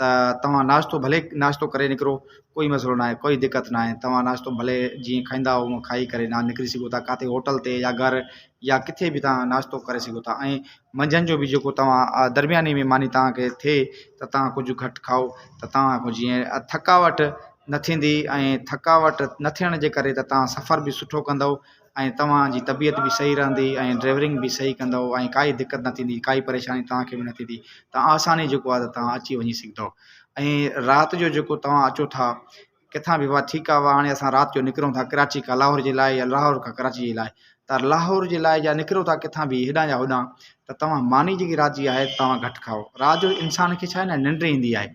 ته توهان ناشتو ڀلي ناشتو ڪري نڪرو ڪوئي مسئلو نه آهي ڪوئي دقت نه آهي توهان ناشتو ڀلي جيئن کائيندا هونئن کائي ڪري نان نڪري سگهو ٿا ڪاٿي هوٽل تي يا گهر يا ڪٿي بي توهان ناشتو ڪري سگهو ٿا ۽ منجهند جو بي جيڪو توهان درمياني مي ماني توهانکي ٿئي ته توهان ڪجهه گهٽ کائو ته توهانکو جيئن ٿڪاوٽ نه ٿيندي ۽ ٿڪاوٽ نه ٿيڻ جي ڪري ته توهان سفر بي سٺو ڪندو ۽ توهان جي طبيعت به صحيح رهندي ۽ ڊرائيورنگ به صحيح ڪندو ۽ ڪائي دقت نه ٿيندي ڪائي پريشاني توهان کي به نه ٿيندي ته آساني جيڪو آهي توهان اچي وڃي سگهندو ۽ رات جو جيڪو توهان اچو ٿا ڪٿا به ٺيڪ آهي هاڻي اسان رات جو نڪرون ٿا ڪراچي کان لاهور جي لاء يا لاهور کان ڪراچي جي لاء ته لاهور جي لاء جا نڪرو ٿا ڪٿا به هيڏانهن يا هوڏانهن ته توهان ماني جيڪي رات جي آهي توهان گهٽ کائو رات جو انسان کي ڇا آهي ننڊ ايندي آهي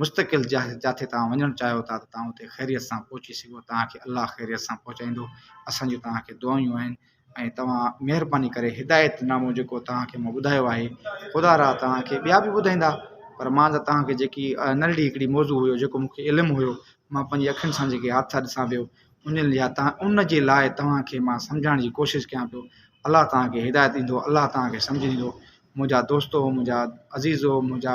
مستقل جاء جاتي توهان وڃڻ چاهيو ٿا ته توهان اتي خيريت سان پهچي سگهو توهان کي الله خيريت سان پهچائيندو اسان جون توهان کي دعايون آهن ۽ توهان مهرباني ڪري هدايت نامو جيڪو توهان کي مون ٻڌايو آهي خدا را توهان کي ٻيا به ٻڌائيندا پر مان ته توهان کي جيڪي نلڙي هڪڙي موضوع هيو جيڪو مون کي علم هيو مان پنهنجي اکين سان جيڪي حادثا ڏسان پيو ان لحاظ تان ان جي لاء توهان کي مان سمجھائڻ جي ڪوشش ڪيان پيو الله توهان کي هدايت ڏيندو الله توهان کي سمجھ ڏيندو منهنجا دوستو منهنجا عزيزو منهنجا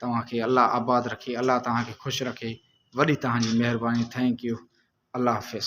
توهان کي الله آباد رکي الله توهان کي خوش رکي وڏي توهان جي مهرباني ٿينڪ يو الله حافظ.